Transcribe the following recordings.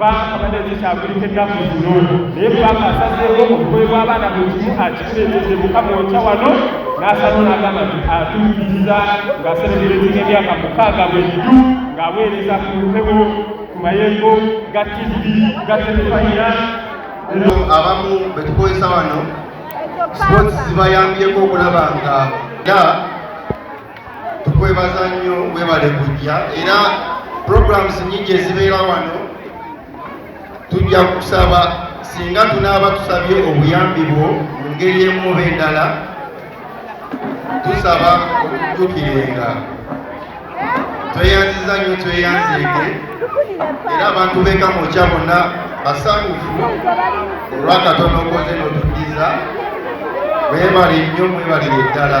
paaka abadde zikyagulika ennaku zino naye paaka asazeewo obugoye bw'abaana buli kimu akikuleetedde mukama okya wano n'asalawo n'agamba nti atuukiriza ng'aserebuletinga emyaka mukaaga bweddu ng'aweereza ku mpewo ku mayengo ga tivi ga telefayina abamu betukozesa wano sports zibayambyeko okulaba nga tukwebaza nnyo webale kujja era programs nyingi ezibeera wano tujja kusaba singa tunaaba tusabye obuyambi bwo mu ngeri emu oba endala tusaba okutukirenga tweyanziza nnyo tweyanzeege era abantu bekamokya bonna basanyufu olwakatono okoze notuddiza mwebale nnyo mwebalire ddala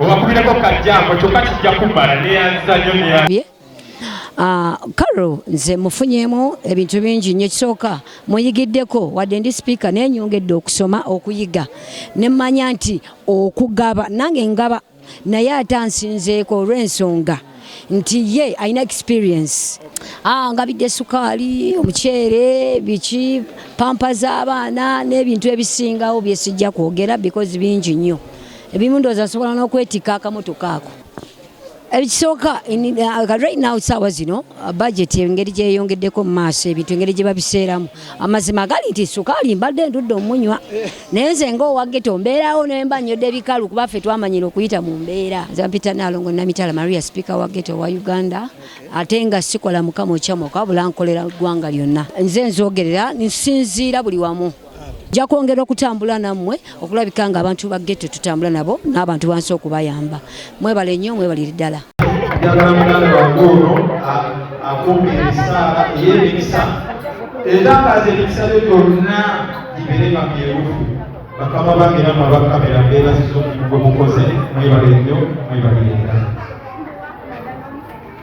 obakubireko kajjambo kyokka kijja kubbala neyanziza nyo neya Ah, Carol nze mufunyemu ebintu bingi nnyo ekisooka muyigiddeko wadde ndi sipiika naye nyongedde okusoma okuyiga ne mmanya nti okugaba nange ngaba naye ate ansinzeeko olw'ensonga nti ye alina experience ah, ngabidde sukaali omuceere biki pampa z'abaana n'ebintu ebisingawo byesijja kwogera because bingi nnyo ebimu ndowooza nsobola n'okwetikka akamotoka ako ekisooka uh, right now saawa zino uh, budget engeri gyeyongeddeko mu maaso ebintu engeri gye babiseeramu amazima gali nti sukaali mbadde ndudde omunywa naye nze ngaowageto mbeerawo nemba nnyodde ebikalu kuba ffe twamanyira okuyita mu mbeera zampita naalongo namitala maria sipiika wa geto wa uganda ate nga sikola mukama okyamoka wabula nkolera ggwanga lyonna nze nzogerera nsinziira buli wamu nja kwongera okutambula nammwe okulabika nga abantu ba getto tutambula nabo n'abantu bansi okubayamba mwebale nnyo mwebalire ddala njagala muganda wange ono akumba ebisaala ey'emikisa ezakaaza emikisa byo byonna gibeere nga byerufu bakama bange namwe abakamera mbeebaziza omulimu gwe mukoze mwebale nnyo mwebalire ddala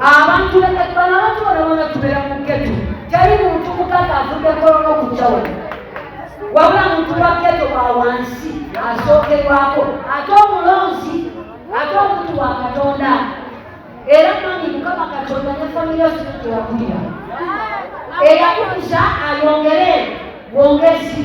abantu bekati bano abantu bano bona tubeera mu ketu teri muntu mukazi avudde kolona okujja wano wabula muntu wa keto wa wansi asookerwako ate omulonzi ate omuntu wa katonda era mani mukama katonda ne famire siwakulira eyakukuza ayongere wongezi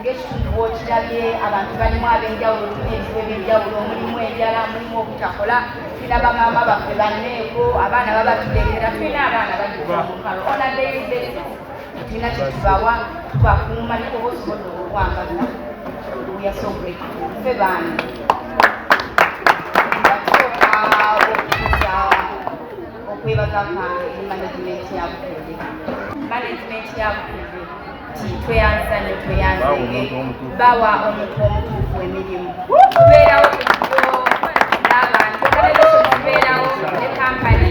Ng'ekitundu bw'okirabye abantu balimu ab'enjawulo tulina ebizibu eby'enjawulo mulimu enjala mulimu obutakola tulina bamaama baffe banneeko abaana baba tugendera tulina abaana batuukalo ona dayide tulina kyetubawa tubakuuma naye oba osobodde okukwambala uyasobreka ffe baani okwebaza kwange management ya bukede management ya bukede tweyanzanye tweyanzanye bawa omuntu omutuufu emirimu tubeerawo kuyo n'abantu tubeerawo ne kampani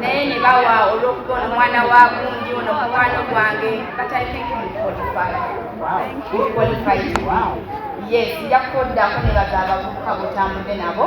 naye ne bawa olw'okuba ono mwana wa gundi ono mukwano gwange batalikenkimukwalifayitikwalifayiti yes nja kukoddako ne baza abavubuka bwetambudde nabo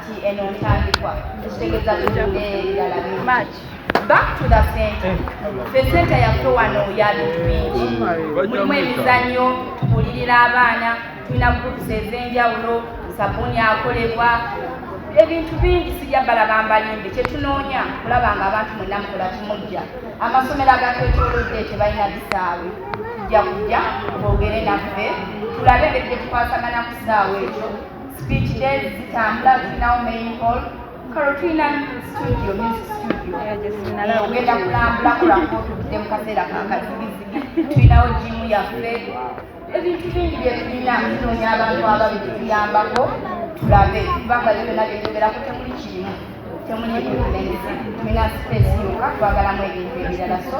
back to the center the center yaffe wano ya bintu bingi mulimu emizannyo tubuulirira abaana tulina groups ez'enjawulo sabuni akolebwa ebintu bingi sijja balaba mbalimbe kyetunoonya kulaba nga abantu mwenna mukola kimujja amasomero agatwetolodde tebalina bisaawe tujja kujja twogere naffe tulabe engeri gyetukwasagana ku kisaawe ekyo Speech days zitambula tulinawo main hall kalo tulina studio music studio eh, ogenda kulambula kulako tuvudde mu kaseera kakazigizigi tulinawo jimu yaffe ebintu bingi byetulina tunoonya abantu ababituyambako tulabe kubanga byona byeyogerako temuli kirimu temuli ebintu tulina space yoka twagalamu ebintu ebirala so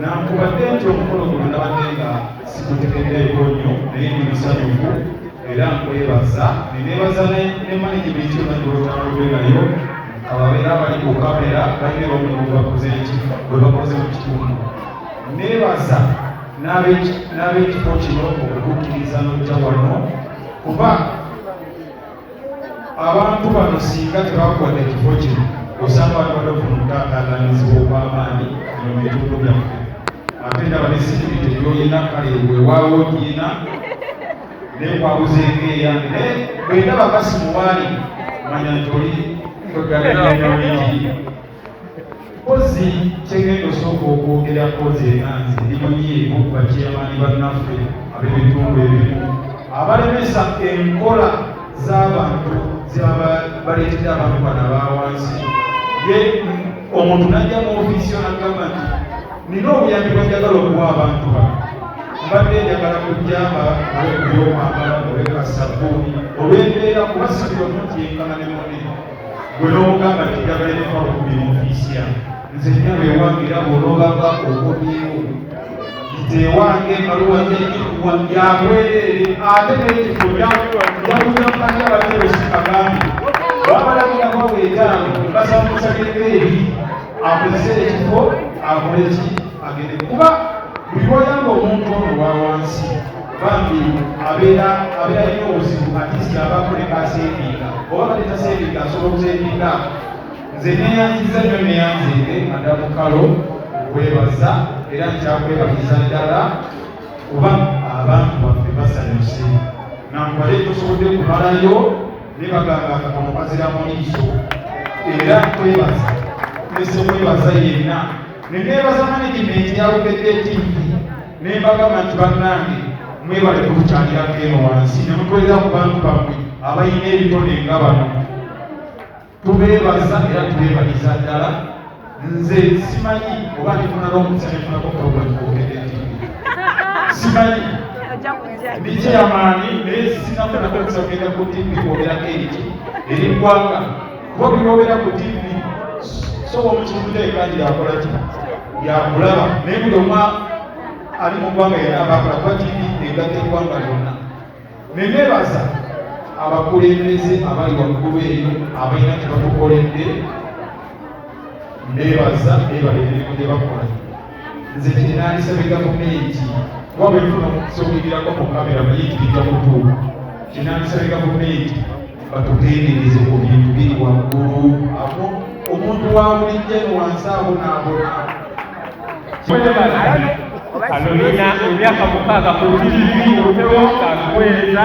nankubadde nti omukolo guno nabadde nga sikutegeddeko nnyo naye ndi musanyufu era nkwebaza nenebaza ne management yonagolotambudde nayo ababeera bali ku kamera balina omulimu gwebakoze eki gwebakoze mu kitundu nebaza n'abekifo kino okutuukiriza n'okutya wano kuba abantu bano singa tebakwata ekifo kino osanga abantu badofuna okutaataaganyizibwa okw'amaanyi mu bitundu byaffe ate ndaba ne sikiriti gyolina kale wewaawo giina nekwabuza enkeeya naye bwendaba kasimuwaali manya nti oli kweggalaa Mpozi kyegenda osooka okwogera mpozi era nze ndimanyiiko bakiyamani bannaffe ab'ebitundu ebimu abalemesa enkola z'abantu zebaleetera abantu bana bawansi ye omuntu najja mu ofiisi yo nagamba nti nina obuyambi bwenjagala okuwa abantu bano mbadde njagala kujjamba olwekubyomwagala olwekasabuuni olwembeera kuba sibyomuntu yenkana ne munene gwe n'ogamba nti njagala ebifa okubira ofiisi yange nze nyama ewange era bw'onoobanga okomyewo nze ewange ebaluwa z'ekikuwa yabwereere ate n'ekifo yakuzamukaja abateesi kagambi wabalagirako weetaano basamusagereko eri akozese ekifo akole ki agende kuba buli wayamba omuntu ono wa wansi bambi abeera abeera alina obuzibu atisi abaako ne kaseebiika oba bade taseebiika asobola okuseebiika nze neyanziza nnyo neyanzinde madamu kalo okwebaza era nkyakwebaliza ddala kuba abantu baffe basanyuse nankubale tosobodde kumalayo ne bagamba kakono kazira mu liiso era nkwebaza nesekwebaza yenna nenebaza management yalugedde tiivi ne mbagamba nti bannange mwebale kutukyalirako eno wansi ne mukolera ku bantu bammwe abalina ebitone nga bano tubeebaza era tubeebaliza ddala nze simanyi oba ndifunala omusanefunako pulogulamu kwogede simanyi ndikyeyamaani naye sinafunako okusagenda ku tivi kwogerako ekyo eri ggwanga kuba buli lwobeera ku tv soba omukibuza ekanji yakola ki yakulaba naye buli omwa ali mu ggwanga yena abakola kuba tv egatta eggwanga lyonna nenebaza abakulembeze abali waggulu eyo abalina kye batukoledde nebaza nebalebirimu gye bakola nze kyenandisabye gavumenti kuba bwefuna sokuigirako ku kamera muyitirijja kutuuka kyenandisabye gavumenti batugendereze ku bintu biri waggulu awo omuntu wa bulijjo eno wansi awo naabona kano nina emyaka mukaaga ku tivi otewo kakuweereza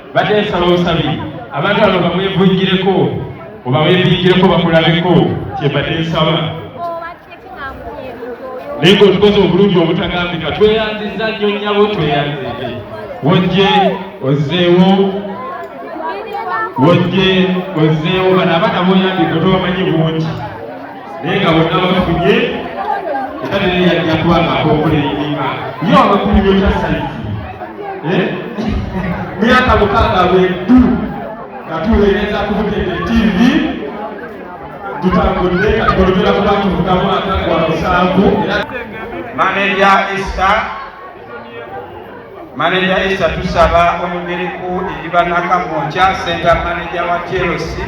Badde nsaba busabi abantu abo bamwevujjireko oba bevujjireko bakulabeko kyebadde nsaba naye ngaotukoze obulungi obutagambika tweyanziza nnyo nyabo tweyanzidde wojje ozzeewo wojje ozzeewo bano abaana boyambika tobamanyi bungi naye nga bonna bafunye era naye yajja kuba ng'akokola enyinga ye abakuliro kya sayizi eh? myaka mukaaga lwedu nga tuweereza kubutende tivi tutambudde katugolobera kuba tuvuga mwaka gwa musanvu maneja esta maneja esta tusaba oyogereku eri banakamwokya senta maneja wa chelsea